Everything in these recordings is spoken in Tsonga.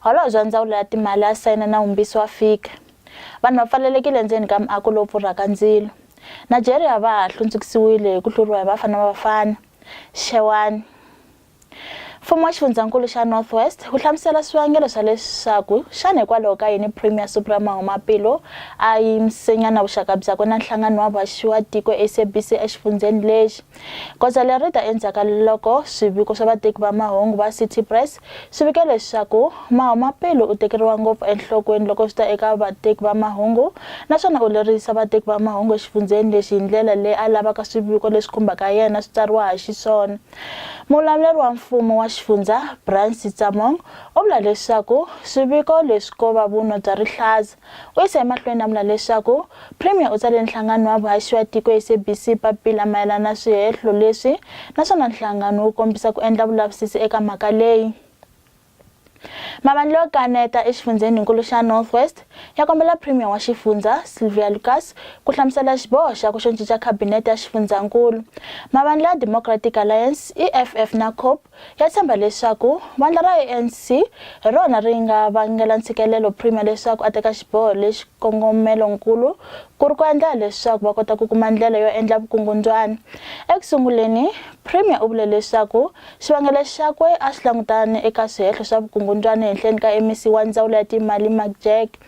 Holobye wa Ndzawulo ya Timali a sayina nawumbisi wa fika. Vanhu va pfalelekile endzeni ka muako lowu pfurhaka ndzilo. Nigeria va ha hlundzukisiwile hi ku hluriwa hi Bafana Bafana, Xewani. Mfumo wa Xifundzankulu xa North West wu hlamusela swivangelo swa leswaku xana hikwalaho ka yini Premier Supra Mahumapelo a yimisenyana vuxaka byakwe na nhlangano wa vaxiwatiko SABC exifundzheni lexi. Goza leri ri ta endzhaku ka loko swiviko swa vateki va mahungu va City Press swi vika leswaku Mahumapelo u tekeriwa ngopfu enhlokweni loko swi ta eka vateki va mahungu naswona u lerisa vateki va mahungu exifundzheni lexi hi ndlela leyi a lavaka swiviko leswi khumbaka yena swi tsariwa ha xiswona. Muvulavuleri wa mfumo wa xifundzha, Brian Sitsamong, u vula leswaku swiviko leswi ko va vunwa bya rihlaza. U yisa emahlweni a vula leswaku Premier u tsalele nhlangano wa vuhaxi wa tiko, SABC, papila mayelana na swihehlo leswi naswona nhlangano wu kombisa ku endla vulavisisi eka mhaka leyi. Mavandla yo kaneta exifundzheni-nkulu xa North West ya kombela Premier wa xifundzha, Sylvia Lucas, ku hlamusela xiboho xa ku xo cinca khabinete ya xifundzha-nkulu. Mavandla ya Democratic Alliance, EFF, na Cope Ya tshemba leswaku vandla ra ANC hi rona ri nga vangela ntshikelelo Premier leswaku a teka xiboho lexi xikongomelo-nkulu ku ri ku endlela leswaku va kota ku kuma ndlela yo endla vukungundzwana. Eku sunguleni, Premier u vule leswaku xivangelo xakwe a xi langutane eka swihehlo swa vukungundzwana ehenhleni ka MEC wa Ndzawulo ya Timali Mark Jack.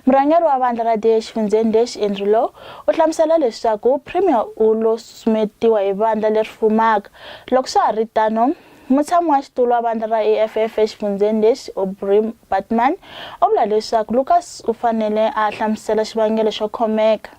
Murhangeri wa vandla ra DA exifundzheni lexi, Andrew Law, u hlamusela leswaku Premier u lo susumetiwa hi vandla leri fumaka. Loko swa ha ri tano, mutshami wa xitulu wa vandla ra EFF exifundzheni lexi, Aubrey Baartman, u vula leswaku Lucas u fanele a hlamusela xivangelo xo khomeka.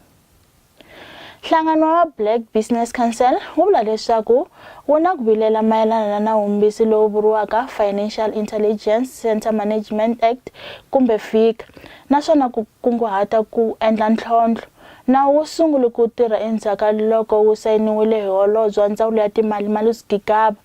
Nhlangano wa Black Business Council wu vula leswaku wu na ku vilela mayelana na nawumbisi lowu vuriwaka Financial Intelligence Center Management Act kumbe FICA naswona ku kunguhata ku endla ntlhontlho. Nawu wu sungule ku tirha endzhaku ka loko wu sayiniwile hi Holobye wa Ndzawulo ya Timali Malusi Gigaba.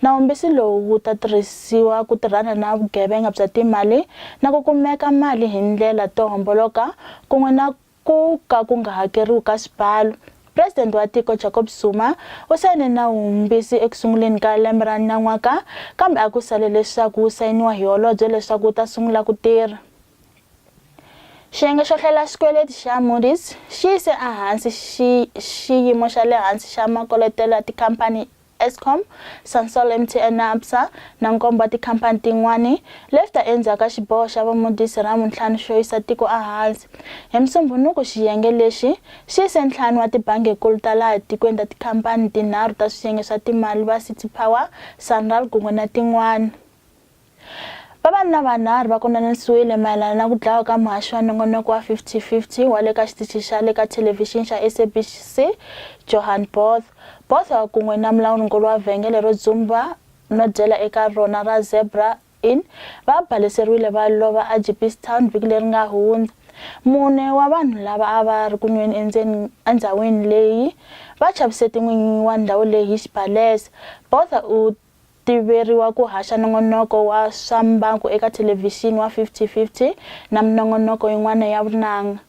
Nawumbisi lowu wu ta tirhisiwa ku tirhana na vugevenga bya timali na ku kumeka mali hi ndlela to homboloka kun'we na Ku ka ku nga hakeriwi ka xibalo. President wa tiko Jacob Zuma u sayine nawu wumbisi eku sunguleni ka lembe ra nan'waka kambe a ku sale leswaku wu sayiniwa hi holobye leswaku wu ta sungula ku tirha. Xiyenge xo hlela xikweleti xa Moody's xi yise ehansi xiyimo xa le hansi xa makoletelo ya tikhampani Eskom, Sasol MTN na Absa na nkombo wa tikhampani tin'wana, leswi ta endzhaku ka xiboho xa VaModis hi Ravuntlhanu xo yisa tiko ehansi. Hi Musumbhunuku xiyenge lexi xi yise ntlhanu wa tibangi-nkulu ta laha tikweni ta tikhampani tinharhu ta swiyenge swa timali va City Power, Sanral kun'we na tin'wana. Vavanuna vanharhu va konanisiwile mayelana na ku dlawa ka muhaxi wa nongonoko wa 50-50 wa le ka xitichi xa le ka thelevhixini xa SABC, Johan Botha. Botha kun'we na mulawuri-nkulu wa vhengele ro dzumba no dyela eka rona ra Zebra Inn va baleseriwile va lova eJeepstown vhiki leri nga hundza. Mune wa vanhu lava a va ri ku nweni endzeni endhawini leyi va chavise tin'winyi wa ndhawu leyi hi xibalesa. Botha u tiveriwa ku haxa nongonoko wa swa mbangu eka thelevhixini wa 5050 na minongonoko yin'wana ya vunanga.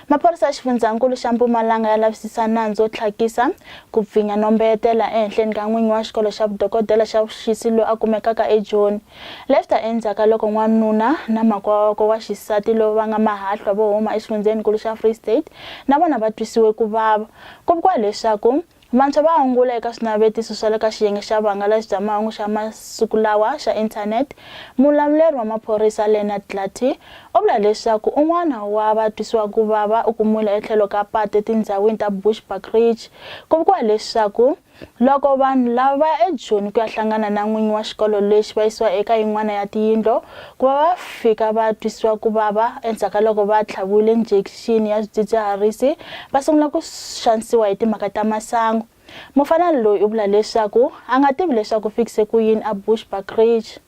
Maphorisa ya Xifundzankulu xa Mpumalanga ya lavisisa nandzu wo tlhakisa, ku pfinya no mbeyetela ehenhleni ka n'winyi wa xikolo xa vudokodela xa vuxisi loyi a kumekaka eJoni, Lefta endzhaka loko n'wanuna na makwawakwe wa xisati lowu va nga mahahlwa vo huma exifundzheni-nkulu xa Free State na vona va twisiwe ku vava. Ku vikiwa leswaku Vantshwa va angula eka swinavetiso swa le ka xiyenge xa vuhangalasi bya mahungu xa masiku lawa xa Internet. Mulamuleri wa maphorisa Leonard Glattey u vula leswaku un'wana wa vatwisiwakuvava u kumiwile etlhelo ka patu etindhawini ta Bushbuck Ridge. Ku vikiwa leswaku loko vanhu lava va ya ejoni ku ya hlangana na n'winyi wa xikolo lexi va yisiwa eka yin'wana ya tiyindlo ku va va fika va twisiwakuvava endzhaku ka loko va tlhaviwile njekixini. addiction ya swidzidziharisi va sungula ku xanisiwa hi timhaka ta masangu mufana loyi u vula leswaku a nga tivi leswaku fikise ku yini a bushback ridge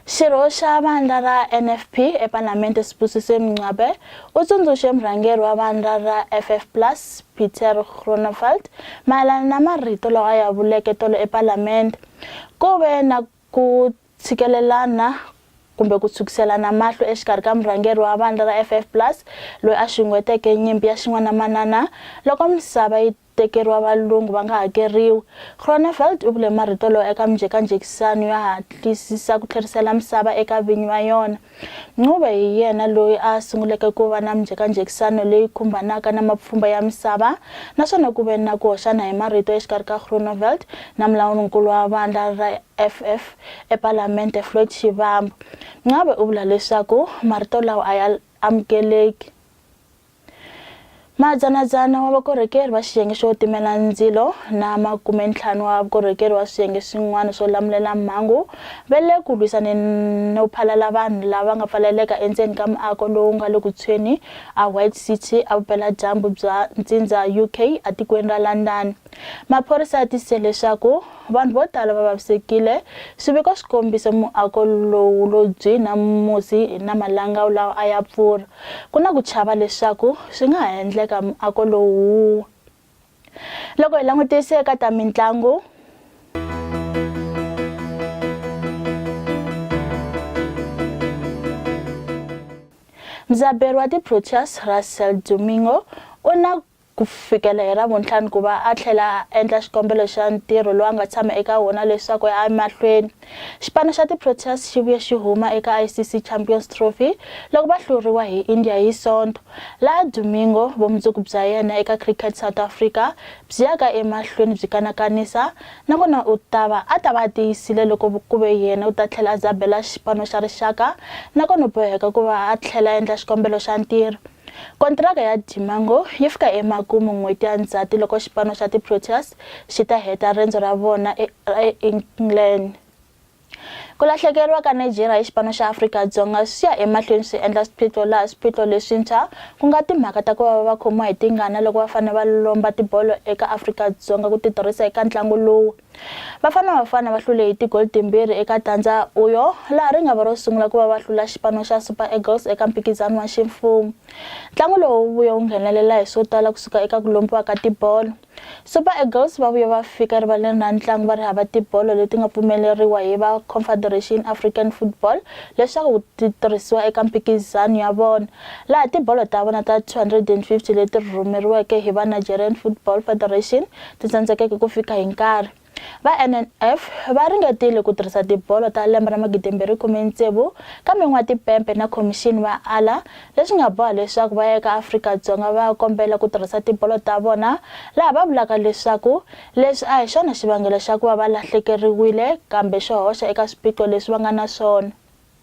xirho xa vandla ra nfp epalamende sibusise mngcwabe u tsundzuxe murhangeri wa vandla ra ff plus peter gronevald mayelana na marito lawa a ya vuleke tolo epalamende ku ve na Ku tshikelelana kumbe ku tshukiselana mahlo exikarhi ka murhangeri wa vandla ra FF Plus loyi a xunguheteke nyimpi ya xin'wana-manana loko misava yi tekeriwa valungu va nga hakeriwi. Groeneveld u vule marito lowa eka minjhekanjhekisano yo hatlisisa ku tlherisela misava eka vinyi va yona. Ncube hi yena loyi a sunguleke ku va na minjhekanjhekisano leyi khumbanaka na mapfhumba ya misava, naswona ku ve na ku hoxana hi marito exikarhi ka Groeneveld na mulawuri-nkulu wa vandla ra EFF ePalamente Floyd Shivambu. Ncube u vula leswaku marito lawa a ya amukeleki. Madzana-dzana wa vakorhokeri va xiyenge xo timela ndzilo na makume-ntlhanu wa vukorhokeri wa swiyenge swin'wana swo lamulela mhangu ve le ku lwisaneni no phalala vanhu lava nga pfaleleka endzeni ka muako lowu nga le ku tshweni a White City, evupela-dyambu bya ntsindza UK, etikweni ra London. Maphorisa ya tisise leswaku vanhu vo tala va vavisekile. Swiviko swi kombise muako lowu lo byi na musi na malangawu lawa a ya pfurha. Ku na ku chava leswaku swi nga ha endleka muako lowu wu wa. Loko hi langutise eka ta mintlangu, mudzaberi wa ti-Proteas Russell Domingo u na ku fikela hi Ravuntlhanu ku va a tlhela a endla xikombelo xa ntirho lowu a nga tshama eka wona leswaku ya emahlweni. Xipano xa tiProteas xi vuye xi huma eka ICC Champions Trophy loko va hluriwa hi India hi Sonto, laha Domingo vumundzuku bya yena eka Cricket South Africa byi yaka emahlweni byi kanakanisa na kona u ta va a ta va a tiyisile loko ku ve yena u ta tlhela a dzabela xipano xa rixaka na kona u boheka ku va a tlhela a endla xikombelo xa ntirho. Kontiraka ya Dimango yi fika emakumu n'hweti ya Ndzhati loko xipano xa ti-Proteas xi ta heta rendzo ra vona eEngland. Ku lahlekeriwa ka Nigeria hi xipano xa Afrika-Dzonga swi ya emahlweni swi endla swiphiqo laha swiphiqo leswintshwa ku nga timhaka ta ku va va khomiwa hi tingana loko va fanele va lomba tibolo eka Afrika-Dzonga ku ti tirhisa eka ntlangu lowu. Bafana Bafana va hlule hi tigoli timbirhi eka tandza Uyo laha ri nga va ro sungula ku va va hlula xipano xa Super Eagles eka mphikizano wa ximfumo. Ntlangu lowu wu vuye wu nghenelela hi swo tala kusuka eka ku lombiwa ka tibolo. Super Eagles va vuye va fika erivaleni ra ntlangu va ri hava tibolo leti nga pfumeleriwa hi va Confederation African Football leswaku ti tirhisiwa eka mphikizano ya vona, laha tibolo ta vona ta 250 leti rhumeriweke hi va Nigerian Football Federation ti tsandzekeke ku fika hi nkarhi. Va NNF va ringetile ku tirhisa tibolo ta lembe ra magidimbirhi khume tsevu kambe n'watipempe na khomixini va ala leswi nga boha leswaku va ya eka Afrika-Dzonga va ya kombela ku tirhisa tibolo ta vona laha va vulaka leswaku leswi a hi xona xivangelo xa ku va va lahlekeriwile kambe xo hoxa eka swiphiqo leswi va nga na swona.